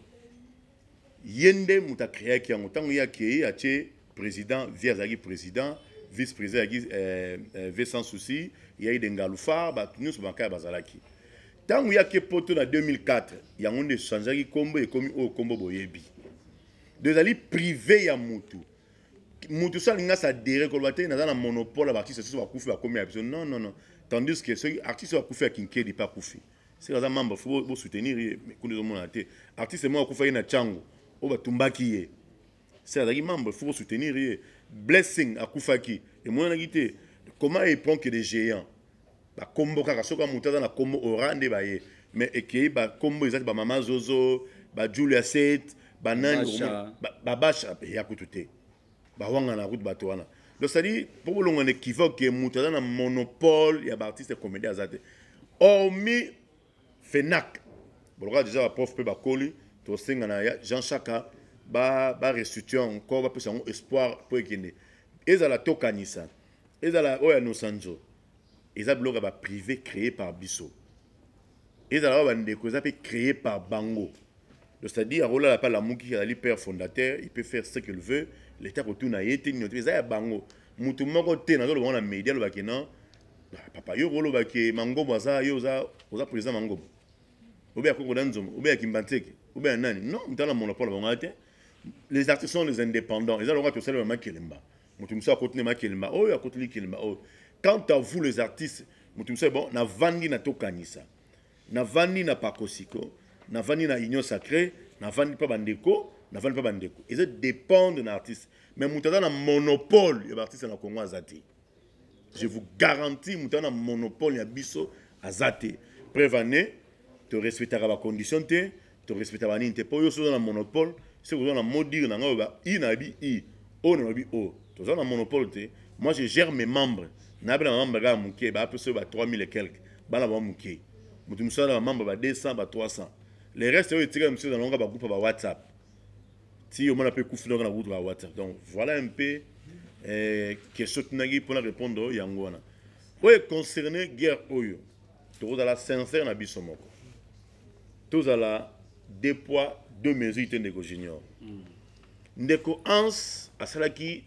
ye nde moto a creaki yango ntango ye akei atie président vie azalaki président vice président azalaki euh, euh, vie sans souci yai de ngalufa bato nyonso bamakaya bazalaki ntango ye ake poto na 2004 yango nde echangeaki nkombo ekomi oyo nkombo boyebi do ezali prive ya motu motu so alingi asadere koloba te naza na monopole ya baartiste soso bakufi bakomi ya biso non non non tandis que soki artiste oyo akufi ya kinkedi mpe akufi seke aza membre fo bosoutenir ye kuna ezomonana te artiste moko akufaki na chango oyo batumbaki ye seke azalaki membre fo bosoutenir ye blessing akufaki emonanaki te comment il prend que des géants bakombo kaka soki moto aza na kombo ora nde baye mais ekei bakombo eza te bamama zozo bajulia set banani babasha ya kutu te bawangana kutu bato wana donc cetadi mpo bolongwa na équivoque ke moto aza na monopole ya baartiste comédien aza te hormis fenac bolokola deja baprof mpe bakoli tosenga na jean chaka barestitue ba encore bapesa yango espoir mpo ekende ezala tokanisa ezala oyo ya nosanzo eza biloko ya ba privé créé par biso ezala ba bandeko eza mpe créé par bango donc c'est-à-dire akolala mpe alamuki azali père fondateur il peut faire ce qu'il veut leta kotuna ye te nino te eza ya bango motu moko te nazoloba yango na média alobaki non ah, papa yo kolobaki mangobo aza yo oza, oza président mangobo obe ya koko na nzombo obe ya kimbanseke obe ya nani non motala monopole bango te les artistes sont les indépendants eza lokola tosalelama kelemba moto mosusu akoti nde makelemba oyo akoti likelemba oyo quant à vous les artistes moto mosusu bon navandi na tokanisa navandi na pakosiko navandi na union sacré navandi mpa bandeko navandi mpa bandeko eza dépendre na artiste mais moto aza na monopole ya baartiste na congo aza te je vous garantis moto aza na monopole ya biso aza te preuve année torespectaka bacondition te to respecta ba nini te po yo soza na monopole c'est que na modire na ngai ba i na bi i o na bi o toza na monopole te moi je gère mes membres na bela membre ga muke ba peso ba 3000 et quelques bana ba muke mutu musala ba membre ba 200 ba 300 les restes yo etika musu na longa ba groupe ba WhatsApp ti yo mona pe kufi na groupe ba WhatsApp donc voilà un peu eh, question tunaki pona répondre yango wana oyo concerne guerre oyo tokozala sincère na biso moko tozala deux poids deux mesures te ndeko junior mm. ndeko hans asalaki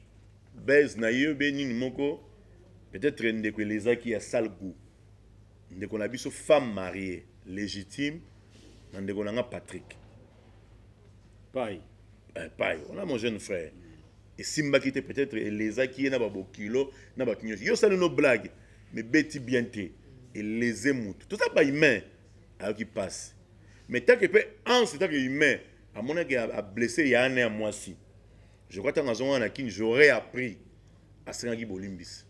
base na ye be nini moko peut-être ndeko elezaki ya sale goût ndeko na biso femme mariée légitime na ndeko na nga patrick pai eh, pai wana mon jeune frère esimbaki te peut-être elezaki ye na babokilo na bato nyonso yo osali no blague mebeti bien te eleze motu toza bahumain ayoki pasi mais take mpe anse take humain amonaki ablesse ya ane ya mwasi je crois ntango azongaka na kini j'aurais appris asengaki bolimbisi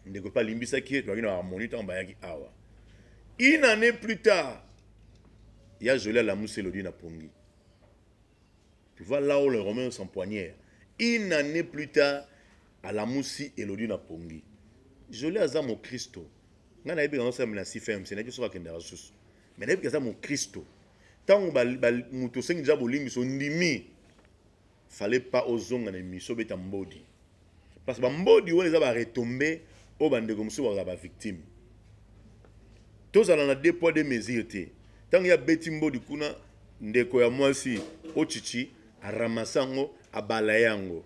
ndeko mpe alimbisaki ye tozalaki na harmonie ntango bayaki awa une année plus tard ya joli alamusi elodi na pongi tu vois là où le romain s'empoignèrent une année plus tard alamusi elodi na pongi jolie aza mokristo ngai nayebi kango sala na cfmc nayebi soki akendaka susu mai nayebi aza mokristo ntango moto osengi deja bolimbisi ondimi fale pa ozonga na emission obeta mbodi parce que bambodi wana eza baretombe oyo bandeko mosusu bakozala bavictime tozala na deux poids deux mesure te ntango ye abeti mbodi kuna ndeko ya mwasi ochichi aramasa yango abala yango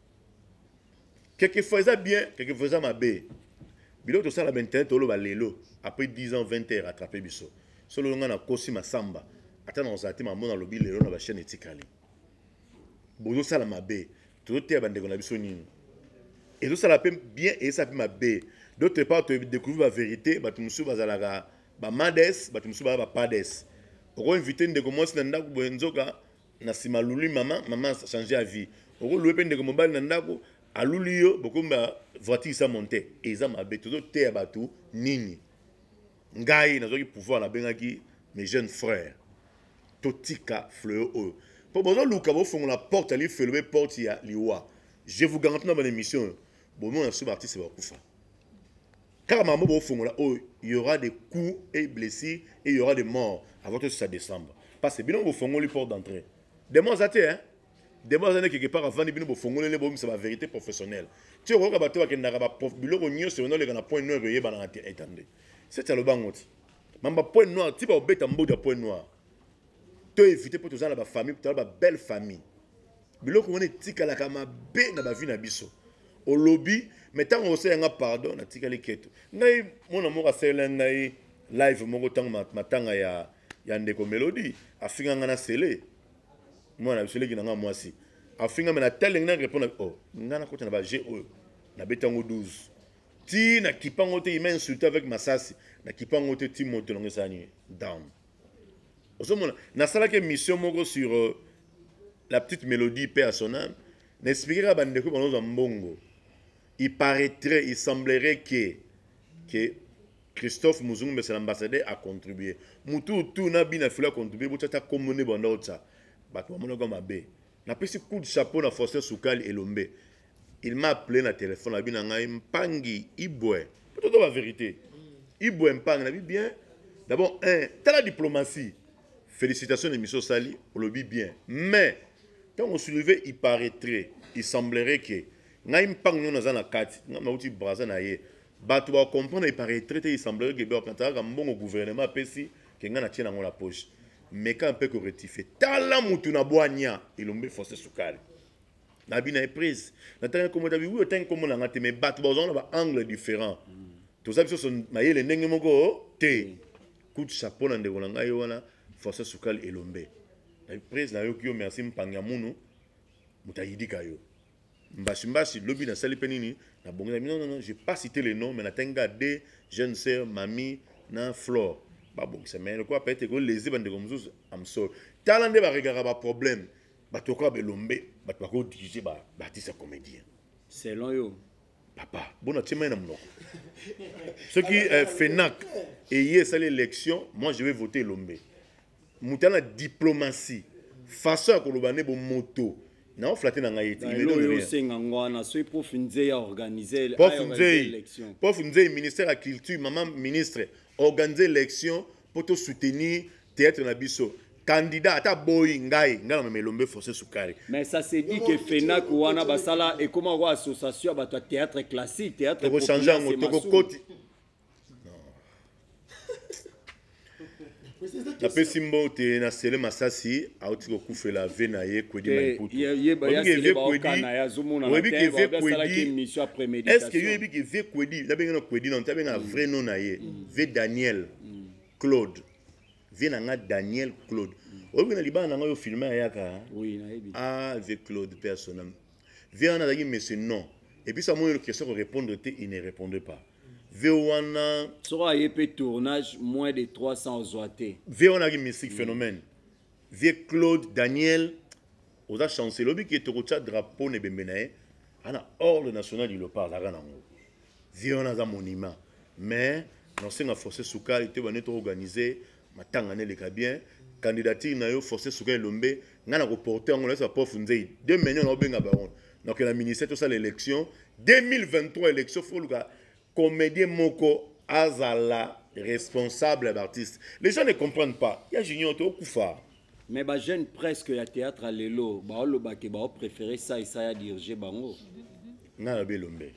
quelquefois eza bien quelquefois eza mabe biloko tosala bainternet toloba lelo après 10 ans 20 heures attrape biso solo nga nakosi masamba ata nakozala te mamona alobi lelo na bachaine etikali bozosala mabe tozoteya bandeko na biso nini ezosala mpe bien ezosala mpe mabe d'autre part todecouvrir bavérité bato mosusu bazalaka bamades bato mosusu baa bapades okoinvite ndeko mwasi na ndako boye nzoka na sima luli mama mama change ya vie okolue mpe ndeko mobali na ndako aluli yo bokomi ba voiture sa monte eza mabe tozoteya bato nini ngai nazwaki pouvoir nabengaki mes jeunes frères totika fleo oyo mpo bozoluka bofongola porte ya lifelo mpe porte ya liwa je vous garanti na bana émission oyo bomona so baartiste bakufa kaka makambo bofongola oyo il y aura des coups et blessures et il y aura des morts avant tout ça décembre parce que bino bofongoli porte d'entrée demo aza te hein demo aza nde quelque part avandi bino bofongolele bomisa ba vérité professionnelle ti okoyoka bato bakendaka biloko nyonso yona oleka na point noir eyebanaka te etande seti aloba yango ti mamba point noir ti baobeta mbodi ya point noir to éviter mpo toza na bafamille toza ba belle famille biloko wana etikalaka mabe na bavi na biso olobi me ntango osala nga pardon natikali keto ngai mwana moko asalela ngai live moko ntango matanga ya, ya ndeko melodi afinga ngai na sele mwana na biso eleki na ngai mwasi afinga me natali ngai na repondre o oh, ngai nakota na baje oyo nabeti yango 12 ti nakipa yango te ima insulte avec masasi nakipa yango te ti moto nango esani down ozomona nasalaki émission moko sur euh, la petite mélodie pe à son âme na expliquaka bandeko banozwa mbongo il paraîtrait il semblerait que que christophe muzungu mbese l'ambassadeur a contribué mutu utu na bina filo a contribué botya ta kombo nde banda otya bato bamonaka mabe napesi coup de chapeau na faustin sukali elombe Il m'a appelé na téléphone abi na ngai mpangi ibwe peut ba vérité ibwe mpangi na bi bien d'abord un tala diplomatie félicitations émission sali olobi bien mais ntango soulevé il paraîtrait il semblerait que ngai mpangi nyo naza na kati ngai nauti braza na ye bato bacomprendre il paraîtrait te il semblerait que bakantakaka mbongo gouvernement apesi ke ngai natie nango na poche meka mpe korectifie tala motu na bwania elombe force sukali nabi na ye prise natangi nkombo dabi wi otangi nkombo na nga te mais bato bazwanga na baangle différent toza biso so mayele ndenge moko te mm. kutu chapeau na ndeko na ngai yo wana françois sukali elombe nabi prise nayoki yo merci mpangi ya munu moto ayidika yo mbasi mbasi lobi nasali mpe nini nabongisa non non non je pas cité le nom mais natangi kaka de jeune sœur mami na flore babongisa mais lokola peut-être ekolese bandeko mosusu amsol tala nde baregaka baproblème bato lokola belombe bato bako dirige ba artiste ya comédien selon yo papa bona tie mai na monoko soki eh, fenac eye esali élection moi je vais voter elombe moto ana diplomatie façon ya koloba nde bomoto nao flate na ngai etiosenga ngo wana soki prof nzei aorganize prof nzei ministère ya culture mama ministre organise élection mpo tosoutenir Theatre na biso candidat ata boyi ngai ngai namema elombe force sukari mais ça se dit que fenak wana basala ekoma yango association ya bato ya théâtre classique théâtre tokochange yango tokokoti napesi mbote na sele masasi auti kokufela ve na ye kwedi maiputooyebi ke ve kwedi estce yo oyebi ke ve kwedi nabengana kwedi nano te abengana mm. vrai nom na ye mm. ve daniel mm. Claude. vie na nga daniel claude oyebi na libala na nga yo filme ayaka ah vie claude mpe asona vie wana azalaki monsieur non epuis amoni question korépondre te il ne répondait pas vie wana soko aye mpe tournage moins de 300 ozwa te vie wana azalaki mystique phénomène vie claude daniel oza chancel oyebi ke tokotya drapeau na ebembe na ye ana ordre national du lopar azalaka nango Vieux wana aza monument mais naosenga force sukali te bane to organiser matanga na eleka bien candidature na yo force sukali elombe ngai nakoporte yango nayesa prof nzei de manion naobenga baron nakokenda ministère tosala élection 2023 élection foluka comédien moko azala responsable ya baartiste les gens ne comprennent pas ya junior te okufa mais bajeune presque ya théâtre ya lelo baolobake baopréféré sa esaya dirige bango ngai nalobi elombe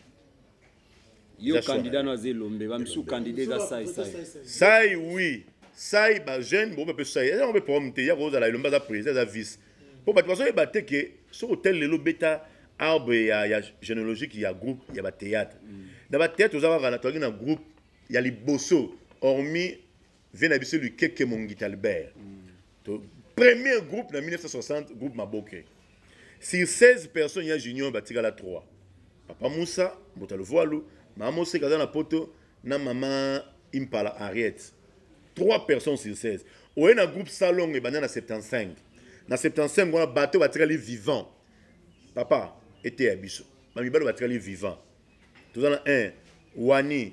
yo candidat no aza elombe bamisusu candidat eza sai sai sai oui sai bajeune bo bape sai yango mpe problème te ya kozala elombe aza président aza vice mpo bato bazoyeba te ke soki otel lelo beta arbre ya, ya généalogique ya groupe ya batéâtre mm. na batéâtre oza kaka na tozalaki na groupe ya liboso hormis Vie na biso Lukeke Mongita Albert. To premier groupe na 1960 groupe Maboke. Sur 16 personnes ya Junior batikala 3. Papa Moussa Mbota Luvualu, Maman Mose kaza na poto na Maman Impala Henriette. 3 personnes sur 16. Oye na groupe Salongo ebanda na 75. Na 75 wana bato batikali vivant. Papa eteya biso. Bamibali batikali vivant. Toza na 1 Wani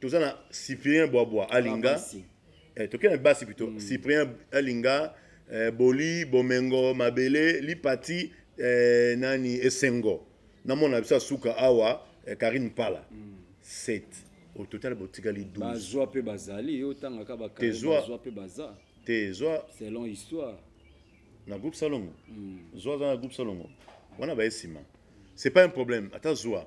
toza na cyprien bwabwa alinga eh, tokei na basi pito mm. cyprien alinga eh, boli bomengo mabele lipati eh, nani esengo namona biso asuka awa eh, karine pala mm. set au total botikali 12 bazwa mpe bazali yo otangaka bakazwa mpe baza te zwa selon histoire na groupe salongo mm. zwa aza na groupe salongo wana baye nsima c'est pas un problème ata zwa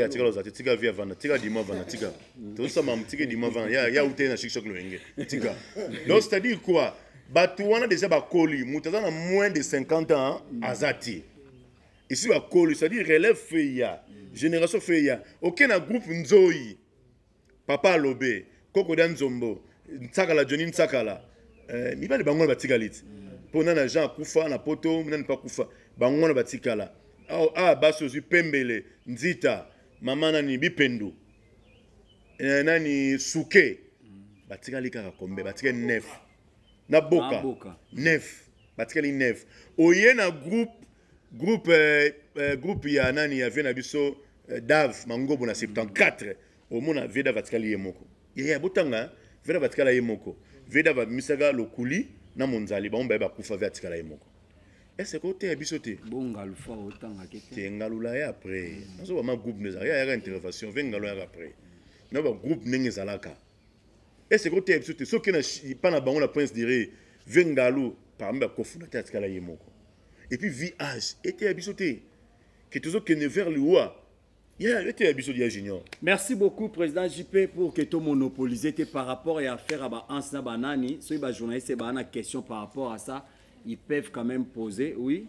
tikala oza te tika vi avanda tika dima avanda tika tozosama tika dima avanda ya utei na shikshok loyenge tika donc c'est à dire quoi bato wana deja bakoli moto aza na moins de 50 ans aza te esi bakoli c'est à dire relève feya génération feya oke na groupe nzoi papa alobe koko dia nzombo nsakala joni nsakala eh, mibali bango wana batikali ti mpo nani jean akufa na poto nani mpe akufa bango wana batikala awa ah, basi ozwi pembele nzita mama nani bipendu eh, nani suke batikali kaka kombe batikali nef na boka nef batikali nef oye na groupe groupe euh, euh, groupe ya nani ya vie na biso euh, dave mangobo na 74 omona vie dave atikali ye moko yaya botanga vie dave atikala ye moko vie dave abimisaka lokuli na monzali bango baye bakufa vie atikala ye moko ese ko oteya biso te bongalu fa otangaki te te ngalula ya après nazo bama groupe nde ezalaka yayaka intervention vie ngalo yaka après na ba groupe ndenge ezalaka ese ko oteya biso te soki na epa na bango na prince dire vie ngalu parmi bakofunate atikala ye moko et puis VH eteya biso te que tozokende vers liwa Yeah, eteya biso dia junior merci beaucoup président jp pour que tomonopolise te par rapport ya affaire ya baanse na banani soki bajournaliste baa na question par rapport à ça ils peuvent quand même poser oui